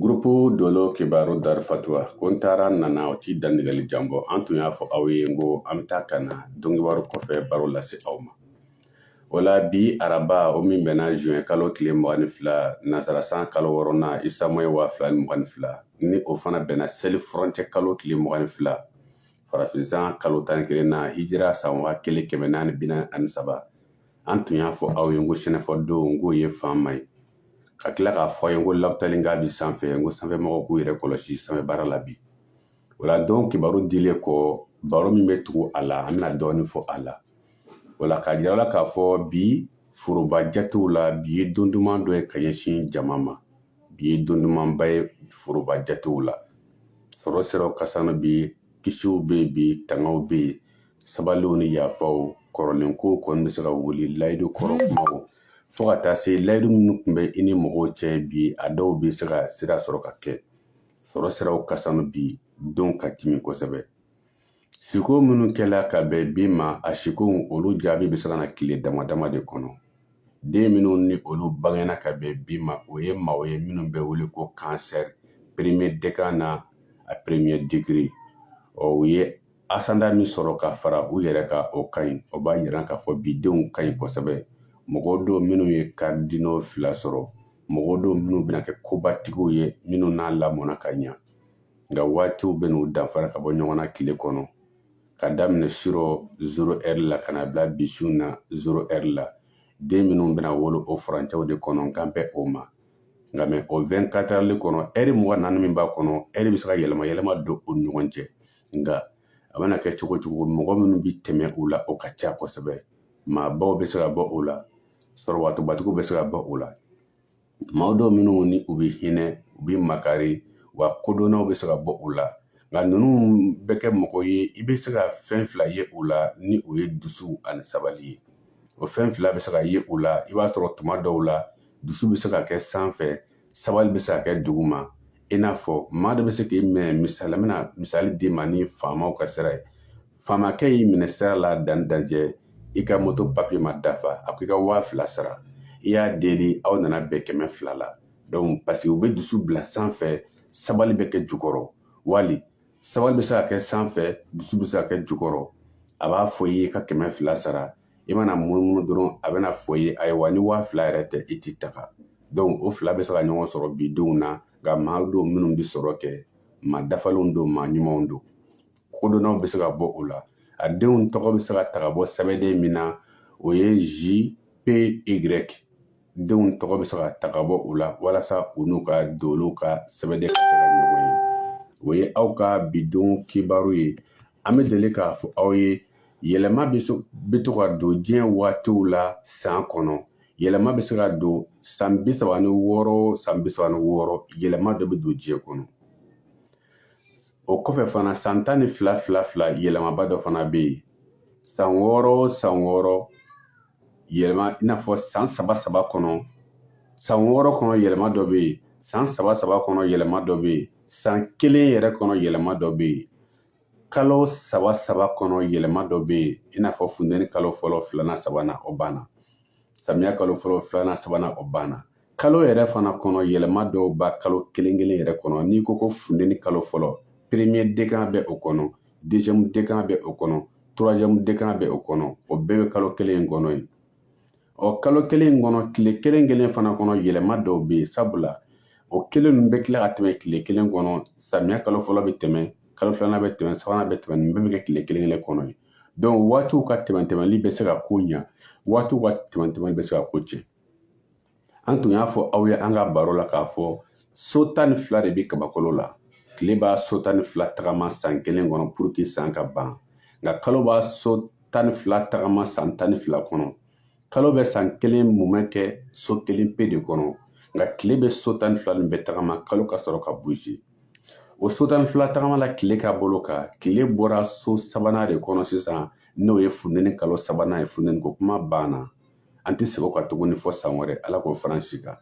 Gurupu Dolo Kibaru Dar Fatuwa ko n taara n nana o t'i dantigɛli jan bɔ an tun y'a fɔ aw ye n ko an bɛ taa ka na donkibaru kɔfɛ baro lase aw ma o la bi araba o min bɛnna juin kalo tile mugan ni fila nansarasan kalo wɔɔrɔnan Isa moyi waa fila ni mugan ni fila ni o fana bɛnna seli furancɛ kalo tile mugan ni fila farafinsan kalo tan ni kelenna hijira san waa kelen kɛmɛ naani bi naani ani saba an tun y'a fɔ aw ye n ko sɛnɛfɔdon n k'o ye fan ma ye ka tila k'a fɔ a ye n ko lapitali k'a bi sanfɛ n ko sanfɛmɔgɔw k'u yɛrɛ kɔlɔsi sanfɛ baara la bi o la don kibaru dilen kɔ baro min bɛ tugu a la an bɛna dɔɔnin fɔ a la o la k'a yira la k'a fɔ bi foroba jatew la bi ye don duman dɔ ye ka ɲɛsin jama ma bi ye don dumanba ye foroba jatew la sɔrɔ siraw ka sanu bi kisiw bɛ yen bi tangaw bɛ yen sabaliw ni yafaw kɔrɔlen kow kɔni bɛ se ka wuli layidu kɔrɔ kumaw fo ka taa se layidu minnu tun bɛ i ni mɔgɔw cɛ bi a dɔw bɛ se ka sira sɔrɔ ka kɛ sɔrɔ siraw ka sanu bi don ka timi kosɛbɛ siko minnu kɛla ka bɛn bi ma a sikow olu jaabi bɛ se ka na tile dama dama de kɔnɔ den minnu ni olu bangena ka bɛn bi ma o ye maaw ye minnu bɛ wele ko cancer premier décan na a premier degré ɔ u ye ascendant min sɔrɔ ka fara u yɛrɛ kan o ka ɲi o b'a yira k'a fɔ bi denw ka ɲi kosɛbɛ mɔgɔw don minnu ye cardinaux fila sɔrɔ mɔgɔw don minnu bɛna kɛ kobatigiw ye minnu n'a lamɔna ka ɲa nka waatiw bɛn'u danfara ka bɔ ɲɔgɔn na tile kɔnɔ ka daminɛ sirɔ zero ɛri la ka na bila bi su na zero ɛri la den minnu bɛna wolo o furancɛw de kɔnɔ n kan bɛ o ma nka mɛ o 24 ɛri kɔnɔ ɛri mugan naani min b'a kɔnɔ ɛri bɛ se ka yɛlɛma yɛlɛma don u ni ɲɔgɔn cɛ nka a mana kɛ cogo cogo mɔgɔ minnu bɛ tɛmɛ u la o ka ca kosɛbɛ maabaw bɛ se ka bɔ o la sɔrɔbatobatigiw bɛ se ka bɔ o la maaw don minnu ni u bɛ hinɛ u bɛ makari wa kodɔnnaw bɛ se ka bɔ o la nka ninnu bɛ kɛ mɔgɔ ye i bɛ se ka fɛn fila ye u la ni o ye dusu ani sabali ye o fɛn fila bɛ se ka ye u la i b'a sɔrɔ tuma dɔw la dusu bɛ se ka kɛ sanfɛ sabali bɛ se ka kɛ duguma i n'a fɔ maa dɔ bɛ se k'i minɛ misali la n bɛna misali d'i ma ni faamaw ka sira ye faamakɛ y'i minɛ sira la danni dajɛ i ka moto papiye ma dafa a ko i ka waa fila sara i y'a deli aw nana bɛn kɛmɛ fila la donc paseke u bɛ dusu bila sanfɛ sabali bɛ kɛ jukɔrɔ wali sabali bɛ se ka kɛ sanfɛ dusu bɛ se ka kɛ jukɔrɔ a b'a fɔ i ye ka kɛmɛ fila sara i mana munumunu dɔrɔn a bɛna fɔ i ye ayiwa ni waa fila yɛrɛ tɛ i tɛ taga donc o fila bɛ se ka ɲɔgɔn sɔrɔ bi denw na nka maa don minnu bɛ sɔrɔ kɛ maa dafalenw don maa ɲumanw don kodɔnnaw bɛ se ka bɔ o la a denw tɔgɔ bɛ se ka ta ka bɔ sɛbɛnden min na o ye J P Y denw tɔgɔ bɛ se ka ta ka bɔ u la walasa u n'u ka dolow ka sɛbɛnden ka se ka ɲɔgɔn ye o ye aw ka bidenw kibaru ye an bɛ deli k'a fɔ aw ye yɛlɛma bɛ to ka don diɲɛ waatiw la san kɔnɔ yɛlɛma bɛ se ka don san bi saba ni wɔɔrɔ san bi saba ni wɔɔrɔ yɛlɛma dɔ bɛ don diɲɛ kɔnɔ o kɔfɛ fana san tan ni fila fila fila yɛlɛmaba dɔ fana bɛ yen san wɔɔrɔ o san wɔɔrɔ yɛlɛma i n'a fɔ san saba saba kɔnɔ san wɔɔrɔ kɔnɔ yɛlɛma dɔ bɛ yen san saba saba kɔnɔ yɛlɛma dɔ bɛ yen san kelen yɛrɛ kɔnɔ yɛlɛma dɔ bɛ yen kalo saba saba kɔnɔ yɛlɛma dɔ bɛ yen i n'a fɔ funteni kalo fɔlɔ filanan sabanan o banna samiya kalo fɔlɔ filanan sabanan o banna kalo yɛrɛ fana kɔnɔ yɛlɛma dɔw b'a kalo kelen kelen yɛrɛ kɔnɔ n'i ko ko funteni kalo fɔlɔ premier décan bɛ o kɔnɔ deuxième décan bɛ o kɔnɔ troisième décan bɛ o kɔnɔ o bɛɛ bɛ kalo kelen in kɔnɔ ye ɔ kalo kelen in kɔnɔ tile kelen kelen fana kɔnɔ yɛlɛma dɔw bɛ yen sabula o kelen ninnu bɛ tila ka tɛmɛ tile kelen kɔnɔ samiya kalo fɔlɔ bɛ tɛmɛ kalo filanan bɛ tɛmɛ sabanan bɛ tɛmɛ nin bɛɛ bɛ kɛ tile kelen kelen kɔnɔ ye waatiw ka tɛmɛntɛmɛli bɛ se ka ko ɲa waatiw ka tɛmɛntɛmɛli bɛ se ka ko tiɲɛ an tun y'a fɔ aw ye an ka baro la k'a fɔ so tan ni fila de bɛ kabakolo la tile b'a so tan ni fila tagama san kelen kɔnɔ pour que san ka ban nka kalo b'a so tan ni fila tagama san tan ni fila kɔnɔ kalo bɛ san kelen mumɛ kɛ so kelen pe de kɔnɔ nka tile bɛ so tan ni fila nin bɛɛ tagama kalo ka sɔrɔ ka bouger o so tan ni fila tagama la tile ka bolo kan tile bɔra so sabanan de kɔnɔ sisan n'o ye funteni kalo sabanan ye funteni ko kuma banna an tɛ segin o kan tuguni fɔ san wɛrɛ ala k'o fara si kan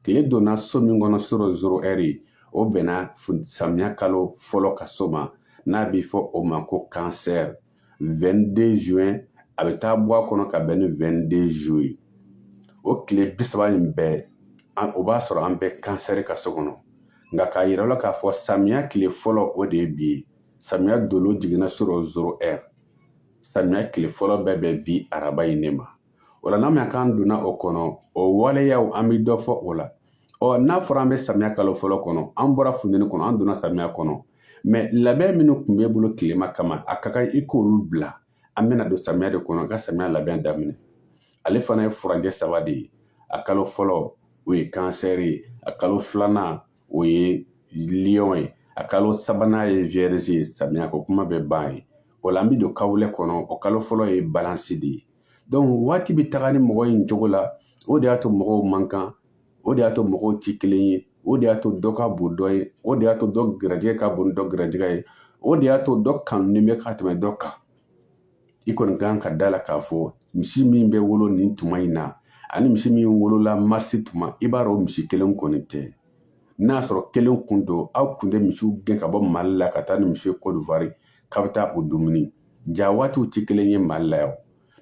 tile donna so min kɔnɔ surɔ zéro heure o bɛnna samiya kalo fɔlɔ ka so ma n'a bɛ fɔ o ma ko cancer 22 juin a bɛ taa bɔ a kɔnɔ ka bɛn ni 22 juillet o tile bi saba in bɛɛ o b'a sɔrɔ an bɛ cancer ka so kɔnɔ nka k'a yira la k'a fɔ samiya tile fɔlɔ o de ye bi ye samiya dolo jiginna surɔ zéro heure samiya tile fɔlɔ bɛ bɛn bi araba in ne ma o la n'a ma k'an donna o kɔnɔ o waleyaw an bɛ dɔ fɔ o la ɔ n'a fɔra an bɛ samiya kalo fɔlɔ kɔnɔ an bɔra funteni kɔnɔ an donna samiya kɔnɔ mais labɛn minnu tun bɛ bolo tilema kama a ka kan i k'olu bila an bɛna don samiya de kɔnɔ ka samiya labɛn daminɛ ale fana ye furanjɛ saba de ye a kalo fɔlɔ o ye cancer ye a kalo filanan o ye lion ye a kalo sabanan ye vierge ye samiya ko kuma bɛ ban ye o la an bɛ don kawulɛ kɔnɔ o kalo fɔlɔ ye balance de ye donc waati bɛ taga ni mɔgɔ in cogo la o de y'a to mɔgɔw man kan o de y'a to mɔgɔw tɛ kelen ye o de y'a to dɔ ka bon dɔ ye o de y'a to dɔ garijɛgɛ ka bon ni dɔ garijɛgɛ ye o de y'a to dɔ kanunen bɛ ka tɛmɛ dɔ kan i kɔni kan ka da la k'a fɔ misi min bɛ wolo nin tuma in na ani misi min wolola marisi tuma i b'a dɔn misi kelen kɔni tɛ n'a sɔrɔ kelen kun don aw kun tɛ misiw gɛn ka bɔ mali la ka taa ni misi ye kɔdiwari k'a bɛ taa o dumuni ja waatiw tɛ kelen ye mali la yan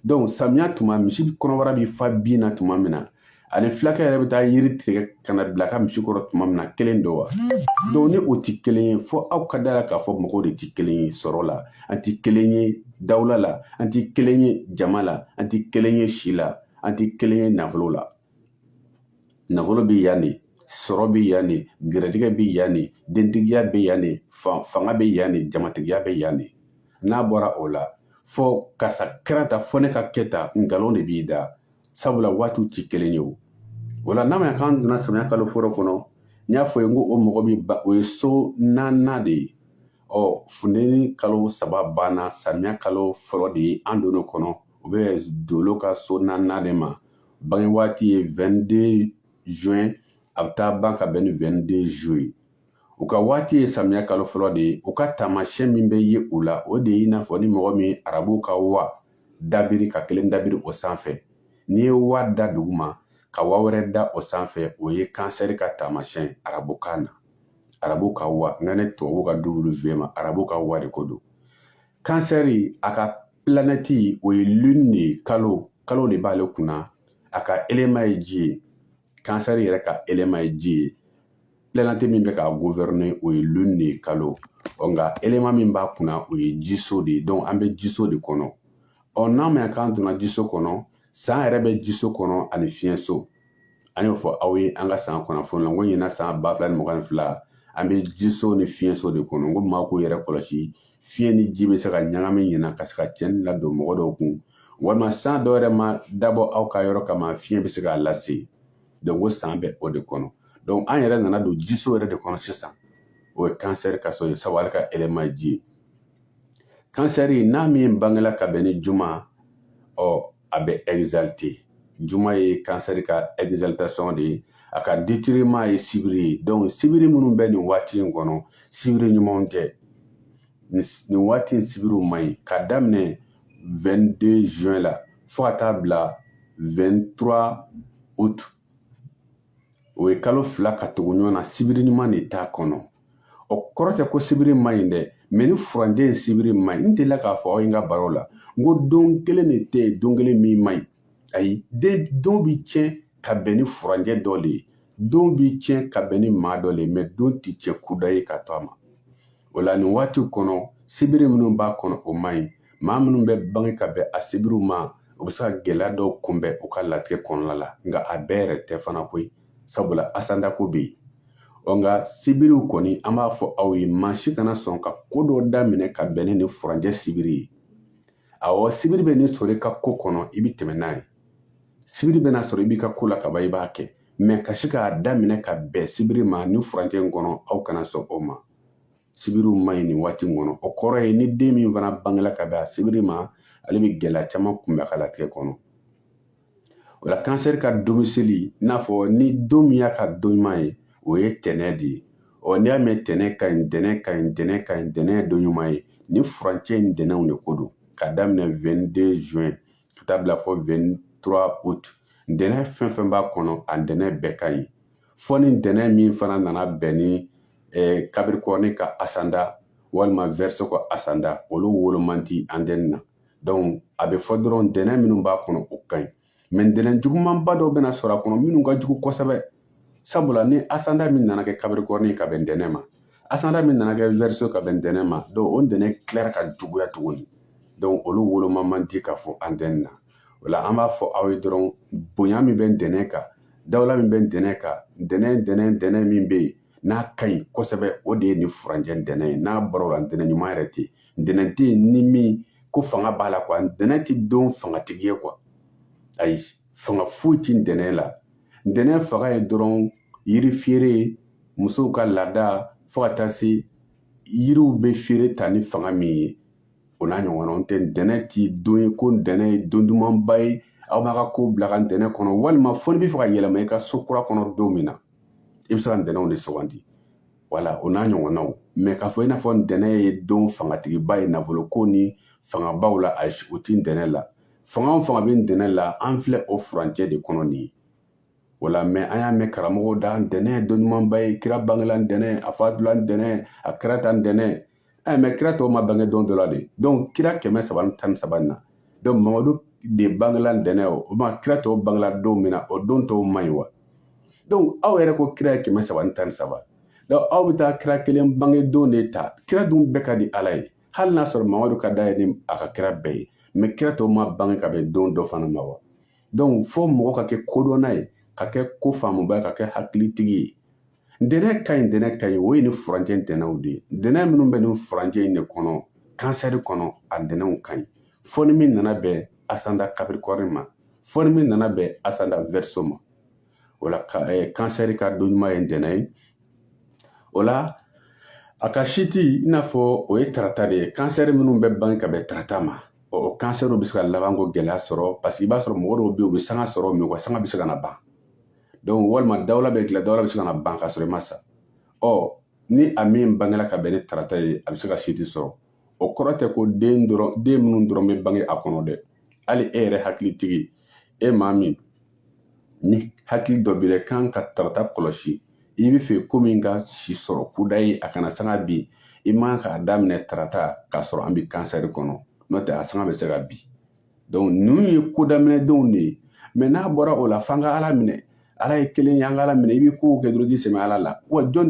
donc samiya tuma misi kɔnɔbara bɛ fa bin na tuma min na ani fulakɛ yɛrɛ bɛ taa yiri tigɛ ka na bila ka misi kɔrɔ tuma min na kelen don wa donc ni o tɛ kelen ye fo aw ka da la k'a fɔ mɔgɔw de tɛ kelen ye sɔrɔ la an tɛ kelen ye dawula la an tɛ kelen ye jama la an tɛ kelen ye si la an tɛ kelen ye nafolo la nafolo bɛ yan de sɔrɔ bɛ yan de garijɛgɛ bɛ yan de dentigiya bɛ yan de fanga bɛ yan de jamatigiya bɛ yan de n'a bɔra o la fɔ karisa kɛra tan fo ne ka kɛ tan nkalon de b'i da sabula waatiw ti kelen ye o o la n'a m'a ye k'an donna samiya kalo fɔlɔ kɔnɔ n y'a fɔ ye n ko o mɔgɔ bɛ ba o ye so naaninan de ye ɔ funteni kalo saba banna samiya kalo fɔlɔ de ye an donn'o kɔnɔ o bɛ dolo ka so naaninan de ma bange waati ye 22 juin a bɛ taa ban ka bɛn ni 22 juillet u ka waati ye samiya kalo fɔlɔ de ye u ka taamasiyɛn min bɛ ye u la o de ye i n'a fɔ ni mɔgɔ min arabuw ka wa dabiri ka kelen dabiri o sanfɛ n'i ye wa da duguma ka wa wɛrɛ da o sanfɛ o ye kansɛri ka taamasiyɛn arabukan na arabu ka wa n kan tɛ tubabu ka w ma arabu ka wa de ko don kansɛri a ka pilanɛti o ye lune de ye kalo kalo de b'ale kunna a ka élément ye ji ye kansɛri yɛrɛ ka élément ye ji ye planète min bɛ k'a gouverner o ye lune de ye kalo ɔ nka élément min b'a kunna o ye jiso de ye donc an bɛ jiso de kɔnɔ ɔ n'a ma k'an donna jiso kɔnɔ san yɛrɛ bɛ jiso kɔnɔ ani fiɲɛso an y'o fɔ aw ye an ka san kunnafoni la n ko ɲinan san ba fila ni mugan ni fila an bɛ jiso ni fiɲɛso de kɔnɔ n ko maa k'u yɛrɛ kɔlɔsi fiɲɛ ni ji bɛ se ka ɲagami ɲinan ka se ka tiɲɛni ladon mɔgɔ dɔw kun walima san dɔ yɛrɛ ma dabɔ aw ka yɔrɔ kama fiɲɛ bɛ se k'a lase donc o san bɛ o de kɔnɔ donc an yɛrɛ nana don jiso yɛrɛ de kɔnɔ sisan o ye kansɛri ka so ye sabu ale ka élément ye ji ye kansɛri n'a min bangela ka bɛn ni juma ɔ a bɛ exalté juma ye kansɛri ka exaltation de ye a ka détriment ye sibiri ye donc sibiri minnu bɛ nin waati in kɔnɔ sibiri ɲumanw tɛ nin waati in sibiriw man ɲi ka daminɛ 22 juin la fo ka taa bila 23 août o ye kalo fila ka tugu ɲɔgɔn na sibiri ɲuman de t'a kɔnɔ o kɔrɔ tɛ ko sibiri man ɲi dɛ mais nin furancɛ in sibiri man ɲi n delila k'a fɔ aw ye n ka baro la n ko don kelen de tɛ yen don kelen min man ɲi ayi don bi tiɲɛ ka bɛn ni furancɛ dɔ de ye don bi tiɲɛ ka bɛn ni maa dɔ de ye mais don ti tiɲɛ kudayi ka to a ma o la nin waati kɔnɔ sibiri minnu b'a kɔnɔ o man ɲi maa minnu bɛ bange ka bɛn a sibiriw ma o bɛ se ka gɛlɛya dɔw kunbɛn u ka latigɛ kɔnɔna la nka a bɛɛ yɛrɛ tɛ fana koyi sabula asandako bɛ yen ɔ nka sibiriw kɔni an b'a fɔ aw ye maa si kana sɔn ka ko dɔ daminɛ ka bɛn ni nin furancɛ sibiri ye awɔ sibiri bɛn'i sɔrɔ i ka ko kɔnɔ i bɛ tɛmɛ n'a ye sibiri bɛn'a sɔrɔ i b'i ka ko la kaban i b'a kɛ mais ka se k'a daminɛ ka bɛn sibiri ma nin furancɛ in kɔnɔ aw kana sɔn o ma sibiriw man ɲi nin waati in kɔnɔ o kɔrɔ ye ni den min fana bangela ka bɛn a sibiri ma ale bɛ gɛlɛya caman kunbɛn a ka latigɛ kɔnɔ o la Cancer ka domicile i n'a fɔ ni don min y'a ka don ɲuman ye o ye ntɛnɛn de ye ɔ n'i y'a mɛn ntɛnɛn ka ɲi ntɛnɛn ka ɲi ntɛnɛn ka ɲi ntɛnɛn ye don ɲuman ye nin furancɛ in ntɛnɛnw de ko don ka daminɛ 22 juin ka taa bila fɔ 23 août ntɛnɛn fɛn fɛn b'a kɔnɔ a ntɛnɛn bɛɛ ka ɲi fɔ ni ntɛnɛn min fana nana bɛn ni eh, Capricorne ka asanda walima Verseau ka asanda olu wolo man di antenne na donc a bɛ fɔ dɔrɔn ntɛnɛn minnu b'a kɔnɔ o ka ɲi mais ntɛnɛn jugumanba dɔw bɛna sɔrɔ a kɔnɔ minnu ka jugu kosɛbɛ sabula ni asanda min nana kɛ Capricorne ka bɛn ntɛnɛn ma asanda min nana kɛ Verseau ka bɛn ntɛnɛn ma donc o ntɛnɛn tilara ka juguya tuguni donc olu woloma man di k'a fɔ antenne na o la an b'a fɔ aw ye dɔrɔn bonya min bɛ ntɛnɛn kan dawula min bɛ ntɛnɛn kan ntɛnɛn ntɛnɛn ntɛnɛn min bɛ yen n'a ka ɲi kosɛbɛ o de ye nin furancɛ ntɛnɛn ye n'a bɔra o la ntɛnɛn ɲuman yɛrɛ tɛ yen ntɛnɛn tɛ yen ni min ko fanga b'a la quoi ntɛnɛn tɛ don fangatigi ye quoi ayi fanga foyi tɛ ntɛnɛn la ntɛnɛn fanga ye dɔrɔn yiri feere musow ka laada fo ka taa se yiriw bɛ feere ta ni fanga min ye o n'a ɲɔgɔnna n tɛ ntɛnɛn tɛ don ye ko ntɛnɛn ye don dumanba ye aw b'aw ka ko bila ka ntɛnɛn kɔnɔ walima fo n'i bɛ fɛ ka yɛlɛma i ka so kura kɔnɔ don min na i bɛ se ka ntɛnɛnw de sugandi wala o n'a ɲɔgɔnnaw mais k'a fɔ i n'a fɔ ntɛnɛn ye don fangatigiba ye nafoloko ni fangabaw la ayi o ti ntɛnɛn la fanga o fanga bɛ ntɛnɛn la an filɛ o furancɛ de kɔnɔ nin ye voilà mais an y'a mɛn karamɔgɔw da ntɛnɛn ye don ɲumanba ye kira bangela ntɛnɛn a fatula ntɛnɛn a kɛra ta ntɛnɛn ɛ mais kira tɔw ma bange don dɔ la de donc kira kɛmɛ saba ni tan ni saba na donc mamadu de bangela ntɛnɛn o o ma kira tɔw bangela don min na o don tɔw man ɲi wa donc aw yɛrɛ ko kira ye kɛmɛ saba ni tan ni saba donc aw bɛ taa kira kelen bange don de ta kira dun bɛɛ ka di ala ye hali n'a sɔrɔ mamadu ka d'a ye ni a ka kira bɛɛ ye mais kira tɔw ma bange ka bɛn don dɔ fana ma wa donc fo mɔgɔ ka kɛ kodɔnna ye ka kɛ ko faamuba ye ka kɛ hakilitigi ye ntɛnɛn ka ɲi ntɛnɛn ka ɲi o ye nin furancɛ ntɛnɛnw de ye ntɛnɛn minnu bɛ nin furancɛ in de kɔnɔ kansɛri kɔnɔ a ntɛnɛnw ka ɲi fɔ ni min nana bɛn ascendant Capricorne ma fɔ ni min nana bɛn ascendant Verseau ma o la kansɛri ka don ɲuman ye ntɛnɛn ye o la a ka siti i n'a fɔ o ye tarata de ye kansɛri minnu bɛ bange ka bɛn tarata ma ɔ, o kansɛriw bɛ se ka labanko gɛlɛya sɔrɔ paseke i b'a sɔrɔ mɔgɔ dɔw bɛ yen u bɛ sanga sɔrɔ mɛ u ka sanga bɛ se ka na ban donc walima dawula b'i la dawula bɛ se ka na ban ka sɔrɔ i ma sa ɔ ni a min bangela ka bɛn ni tarata ye a bɛ se ka siti sɔrɔ o kɔrɔ tɛ ko den minnu dɔrɔn bɛ bange a kɔnɔ dɛ hali e yɛrɛ hakilitigi e maa min ni hakili dɔ b'i la kan ka tarata kɔlɔsi i b'a fɛ ko min ka si sɔrɔ kudayi a kana sanga bin i man k'a daminɛ tarata k'a sɔrɔ an bɛ kansɛri kɔnɔ n'o tɛ a sanga bɛ se ka bin donc ninnu ye ko daminɛ donw de ye mɛ n'a bɔra o la f'an ka ala minɛ ala ye kelen ye an ka ala minɛ i bɛ kow kɛ dɔrɔn k'i sɛmɛ ala la wa jɔn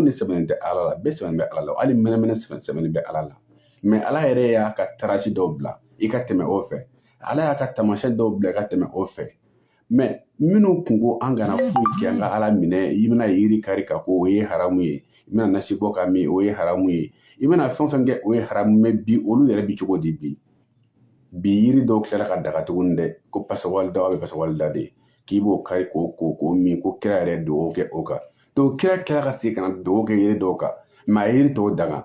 de sɛmɛnen tɛ ala la bɛɛ sɛmɛnen bɛ ala la hali mɛnɛmɛnɛ sɛmɛnen bɛ ala la mɛ ala yɛrɛ y'a ka tarasi dɔw bila i ka tɛmɛ o fɛ ala y'a ka taamasiyɛn dɔw bila i ka tɛmɛ o fɛ mɛ minnu kun ko an kana foyi kɛ an ka ala minɛ i bɛna yiri kari ka ko o ye haramu ye i bɛna nasi bɔ ka min o ye haramu ye i bɛna fɛn o fɛn kɛ o ye haramu mɛ bi olu yɛrɛ bi cogo di bi bi yiri dɔw tilala ka daga tuguni dɛ ko pasawalida bɛ pasawalida de k'i b'o kari k'o min ko kira yɛrɛ dugawu kɛ o kan donc kira tilala ka segin ka na dugawu kɛ yiri dɔw kan mɛ a yiri tɔw danga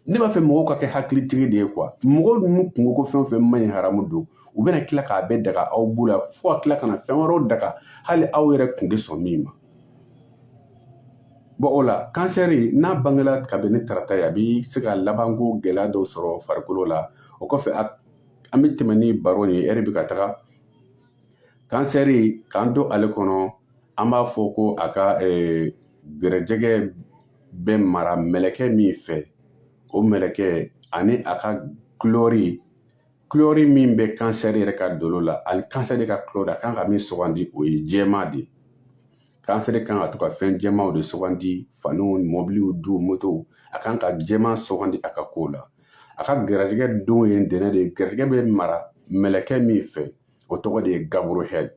ne b'a fɛ mɔgɔw ka kɛ hakilitigi de ye quoi mɔgɔw ninnu kungo ko fɛn o fɛn man ɲi haramu don u bɛna tila k'a bɛɛ daga aw bolo la fo ka tila ka na fɛn wɛrɛw daga hali aw yɛrɛ kun tɛ sɔn min ma bon o la kansɛri n'a bangela ka bɛn ni tarata ye a bi se ka labanko gɛlɛya dɔw sɔrɔ farikolo la o kɔfɛ an bɛ tɛmɛ ni baro ye ɛri bɛ ka taga kansɛri k'an to ale kɔnɔ an b'a fɔ ko a ka gɛrɛjɛgɛ bɛ mara mɛlɛkɛ min fɛ o mɛlɛkɛ ani a ka kulɛri kulɛri min bɛ kansɛri yɛrɛ ka dolo la ani kansɛri ka kulɛri a kan ka min sugandi o ye jɛman de ye kansɛri kan ka to ka fɛn jɛmanw de sugandi faniw mɔbiliw du motow a kan ka jɛman sugandi a ka kow la a ka garijɛgɛ don ye ntɛnɛn de ye garijɛgɛ bɛ mara mɛlɛkɛ min fɛ o tɔgɔ de ye Gabriel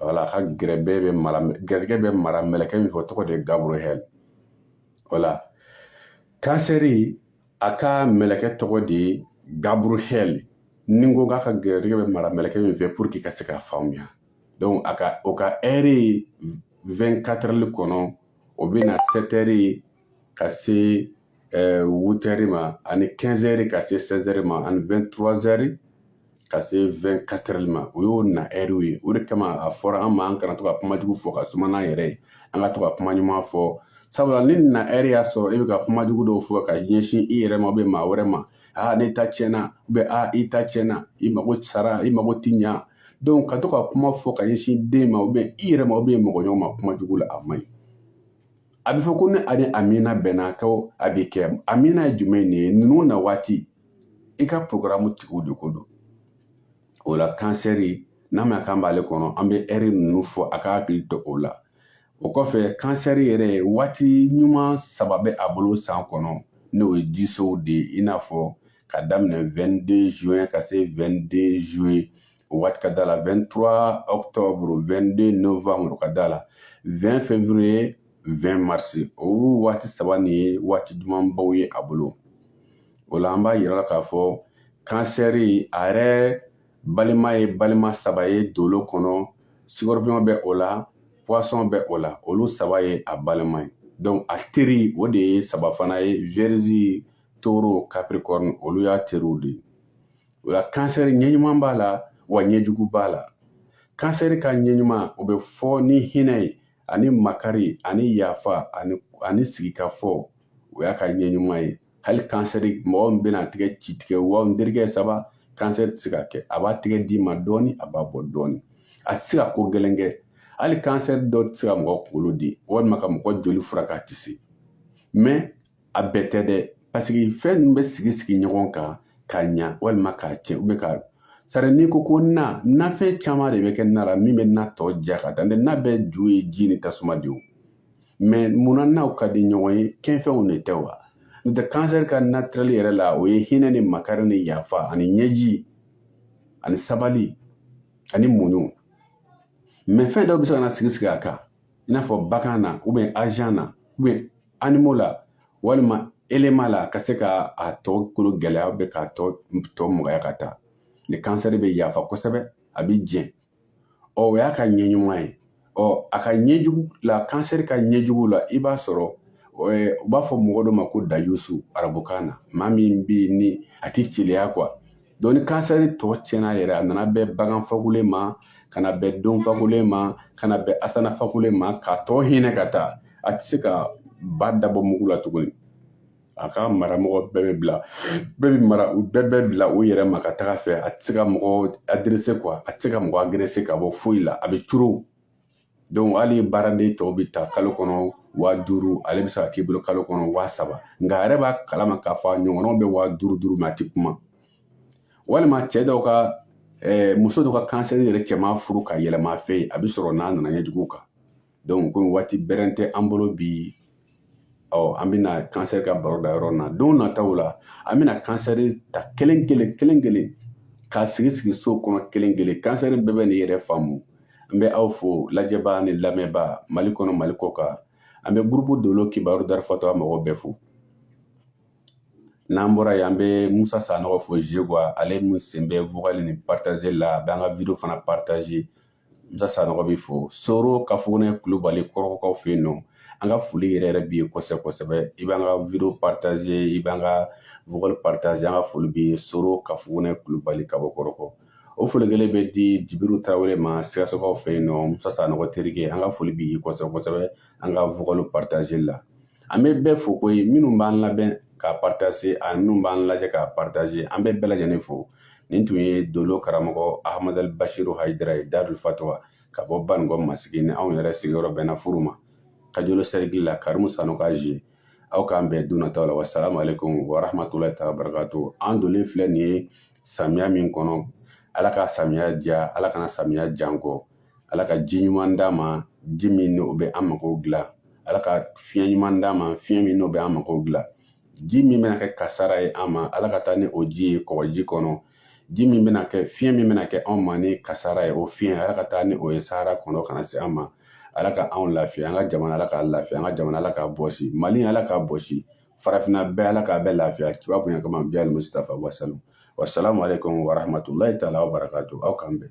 wala a ka garijɛgɛ bɛ mara mɛlɛkɛ min fɛ o tɔgɔ de ye Gabriel wala kansɛri a ka mɛlɛkɛ tɔgɔ de ye Gabriel ni n ko k'a ka gɛrɛjɛgɛ bɛ mara mɛlɛkɛ min fɛ pour que i ka se k'a faamuya donc o ka ɛri 24 heures kɔnɔ o bɛ na 7 heures ka se 8 heures ma ani 15 heures ka se 16 heures ma ani 23 heures ka se 24 heures ma o y'o na ɛriw ye o de kama a fɔra an ma an kana to ka kuma jugu fɔ ka suma n'an yɛrɛ ye an ka to ka kuma ɲuman fɔ sabula ni na ɛri y'a sɔrɔ e bɛ ka kuma jugu dɔw fɔ ka ɲɛsin i yɛrɛ ma ou bien maa wɛrɛ ma aa ne ta tiɲɛna ou bien i ta tiɲɛna i mago sara i mago ti ɲa donc ka to ka kuma fɔ ka ɲɛsin den ma ou bien i yɛrɛ ma ou bien mɔgɔ ɲɔgɔn ma kuma jugu la a man ɲi a bɛ fɔ ko ni a ni amina bɛnna ko a bɛ kɛ amina ye jumɛn de ye ninnu na waati i ka porogramu tigiw de ko don o la kansɛri n'a ma k'an b'ale kɔnɔ an bɛ ɛri ninnu fɔ a ka hakili to o la o kɔfɛ kansɛri yɛrɛ waati ɲuman saba bɛ a bolo san kɔnɔ n'o ye jisow de ye i n'a fɔ ka daminɛ 22 juin ka se 22 juillet o waati ka da la 23 octobre 22 novembre ka da la 20 février 20 mars o waati saba nin ye waati dumanbaw ye a bolo o la an b'a yira la k'a fɔ kansɛri a yɛrɛ balima ye balima saba ye dolo kɔnɔ scorpion bɛ o la poisson bɛ o la olu saba ye a balima ye donc a teri o de ye saba fana ye vierge taureau capricorne olu y'a teriw de ye o la kansɛri ɲɛɲuman b'a la wa ɲɛjugu b'a la kansɛri ka ɲɛɲuman o bɛ fɔ ni hinɛ ye ani makari ani yafa ani sigikafɔ o y'a ka ɲɛɲuman ye hali kansɛri mɔgɔ min bɛna tigɛ ci tigɛ wa n terikɛ saba kansɛri tɛ se ka kɛ a b'a tigɛ d'i ma dɔɔni a b'a bɔ dɔɔni a tɛ se ka ko gɛlɛn kɛ hali kansɛri dɔ tɛ se ka mɔgɔ kunkolo di walima ka mɔgɔ joli furakɛ a tɛ se mais a bɛɛ tɛ dɛ parce que fɛn ninnu bɛ sigi sigi ɲɔgɔn kan ka ɲa walima k'a cɛn ou bien ka sari n'i ko ko na nafɛn caman de bɛ kɛ na la min bɛ na tɔ ja ka taa na bɛɛ ju ye ji ni tasuma de ye mais munna naw ka di ɲɔgɔn ye kɛfɛnw de tɛ wa n'o tɛ kansɛri ka naturel yɛrɛ la o ye hinɛ ni makari ni yafa ani ɲɛji ani sabali ani muɲu mais fɛn dɔw bɛ se ka na sigi sigi a kan i n'a fɔ bagan na ou bien ascendant ou bien animaux la walima élément la ka se ka a tɔ kolo gɛlɛya ou bien k'a tɔ tɔ magaya ka taa ni kansɛri bɛ yafa kosɛbɛ a bɛ jɛn ɔ o y'a ka ɲɛɲuman ye ɔ a ka ɲɛjugu la kansɛri ka ɲɛjugu la i b'a sɔrɔ u b'a fɔ mɔgɔ dɔ ma ko dayusu arabukan na maa min bɛ yen ni a tɛ celeya quoi Donc ni kansɛri tɔ cɛnna yɛrɛ, a nana bɛn bagan fakolen ma, ka na bɛn don fakolen ma, ka na bɛn ascendant fakolen ma, k'a tɔ hinɛ ka taa, a tɛ se ka ba da bɔ mugu la tuguni. A ka maramɔgɔ bɛɛ bɛ bila bɛɛ bɛ mara u bɛɛ bɛ bila u yɛrɛ ma ka taga fɛ a tɛ se ka mɔgɔ adresser quoi a tɛ se ka mɔgɔ agresser ka bɔ foyi la a bɛ curu donc hali baaraden tɔw bɛ ta kalo kɔnɔ waa duuru ale bɛ se ka k'i bolo kalo kɔnɔ waa saba nka a yɛrɛ b'a kalama k'a fɔ a ɲɔgɔnnaw bɛ waa duuru duuru mais a tɛ kuma walima cɛ dɔw ka eh, muso dɔw ka kansɛri yɛrɛ cɛma furu ka yɛlɛma a fɛ yen a bɛ sɔrɔ n'a nana ɲɛjugu kan donc komi waati bɛrɛn tɛ an bolo bi ɔ an bɛna kansɛri ka baro da yɔrɔ na don nataw la an bɛna kansɛri ta kelen kelen kelen kelen k'a sigi sigi so kɔnɔ kelen kelen kansɛri bɛɛ bɛ n'i yɛrɛ faamu n bɛ aw fo lajɛbaa ni lamɛnbaa mali kɔnɔ mali kɔ kan an bɛ gurupu dolo kibaru darul fatwa mɔgɔ bɛɛ fo n'an bɔra yen an bɛ musa sanɔgɔ fo zegowa ale min sen bɛ vocal ni partage la a bɛ an ka video fana partager musa sanɔgɔ bɛ fo soro kafugune kulubali kɔrɔgɔkaw fɛ yen nɔ an ka foli yɛrɛ yɛrɛ b'i ye kosɛbɛ kosɛbɛ i b'an ka video partager i b'an ka vocal partager an ka foli b'i ye soro kafugune kulubali ka bɔ kɔrɔgɔ o foli kelen bɛ di jibiru tarawele ma sikasokaw fɛ yen nɔ musa sanɔgɔ terikɛ an ka foli b'i ye kosɛbɛ kosɛbɛ an ka vocal partage la an bɛ bɛɛ fo koyi minnu b'an lamɛn k'a partager ani minnu b'an lajɛ k'a partager an bɛ bɛɛ lajɛlen fo nin tun ye dolo karamɔgɔ ahamadal bashiru hayidara ye darul fatwa ka bɔ banikɔ masigi ni anw yɛrɛ sigiyɔrɔ bɛnna furu ma kajolo sɛrikili la karimu sanu ka zi aw k'an bɛn don nataw la wasalamu aleykum warahmatulahi taala barakatu an donnen filɛ nin ye samiya min kɔnɔ ala ka samiya diya ala kana samiya ja an kɔ ala ka ji ɲuman d'an ma ji min n'o bɛ an mago dilan ala ka fiɲɛ ɲuman d'an ma fiɲɛ min n'o bɛ an mago dilan ji min bɛna kɛ kasara ye an ma ala ka taa ni o ji ye kɔgɔji kɔnɔ ji min bɛna kɛ fiɲɛ min bɛna kɛ anw ma ni kasara ye o fiɲɛ ala ka taa ni o ye sahara kɔnɔ kana se an ma ala ka anw lafiya an ka jamana ala ka lafiya an ka jamana ala ka bɔsi mali ala ka bɔsi farafinna bɛɛ ala ka bɛɛ lafiya kiba bonya kama bɛɛ ali musitafa wasalu wasalamu aleykum warahmatulahi taala wabarakatu aw k'an bɛn